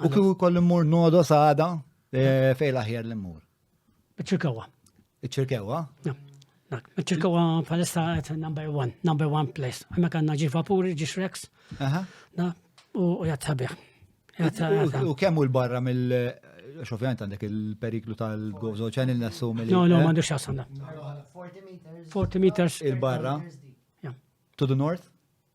U kif ukoll immur nodo sada eh, fej l-aħjar li mmur. Iċ-ċirkewa. Iċ-ċirkewa? Iċ-ċirkewa palissa qed number one, number one place. Hemmhekk għandna ġi vapuri, ġi Shrex. U jgħat sabiħ. U kemm u l-barra mill xofjant għandek il-periklu tal-gozo ċan il-nassu mill No, no, eh? għandu xasanda. 40 meters. Il-barra. To the north?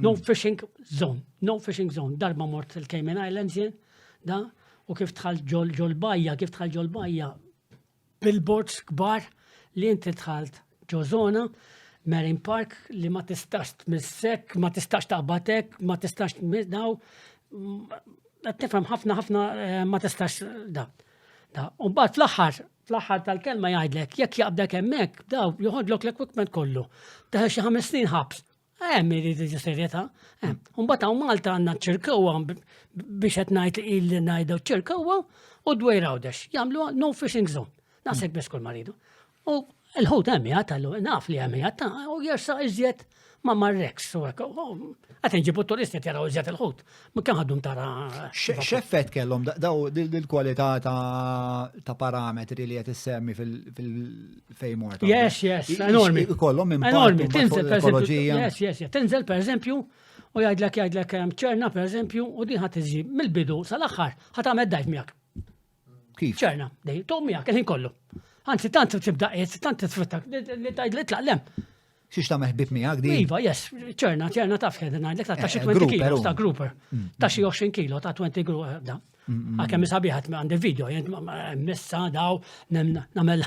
No hmm. fishing zone, no fishing zone. Darba mort il-Cayman Islands jien, da, u kif tħal ġol ġol bajja, kif tħal ġol bajja, billboards kbar li inti tħalt ġo zona, Marine Park li ma tistax tmissek, ma tistax taqbatek, ma tistax daw, tifhem ħafna ħafna eh, ma tistax da. Da, u bat fl-aħħar fl-aħħar tal-kelma jgħidlek, jekk jaqbdek hemmhekk, daw joħodlok l-equipment kollu. Teħel xi ħames snin ħabs Hemm iridu ġu serjetà. Mbagħad hawn Malta għandna ċirkewwa biex qed ngħid il ngħidu ċirkewwa u dwejr għawdex. Jagħmlu no fishing zone. Naħseb biss kull maridu. U l-ħut hemm jgħat għallu, naf li hemm jgħat u jersa iżjed ma marreks. Għat nġibu turisti jaraw iżjed il-ħut. Ma kemm għaddum tara. X'effett kellhom daw il-kwalità ta' parametri li qed issemmi fil-fejmor. Yes, yes, enormi. Kollhom enormi, tinżel ekoloġija. Yes, yes, yes. Tinżel pereżempju u jgħidlek jgħidlek ehm, ċerna pereżempju u din ħadd iżi mill-bidu sal-aħħar ħadd għamel dajf miegħek. Kif? ċerna, dej, tu miegħek il-ħin kollu. Anzi, tant tibda qed, tant tisfrutta li tajd li tlaq lem. Xiex ta' meħbib miegħek di? Iva, yes, ċerna, ċerna taf xed ngħidlek ta' xi 20 kilo ta' grouper. Mm. Ta' xi 20 kilo ta' 20 grouper. Eh, mm, mm, Għakemm isabiħat għandi video, jent messa daw namel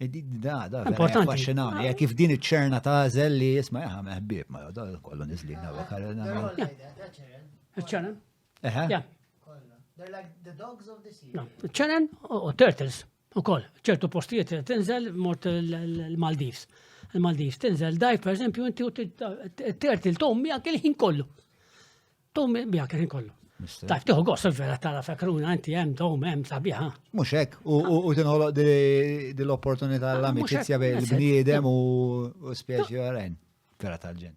Da, da, importanti. Affaxxinani, jek kif din iċ-ċerna ta' zel li jisma jaha meħbib, ma da kollu nizlina u ċerna. Eħe. They're like the dogs of the sea. ċerna u turtles u koll, ċertu postijiet tinżel mort l-Maldives. Il-Maldives tinżel daj, per eżempju, inti u t-turtle tom jgħak il-ħin kollu. Tom biha kien kollu. Tajb, tiħu għos il-vera tara fekruna, inti jem, dom, jem, sabiħa. Muxek, u tinħoloq dil-opportunità ah, l-amicizja bejn il-bniedem u spieċi għarajn, vera tal-ġen.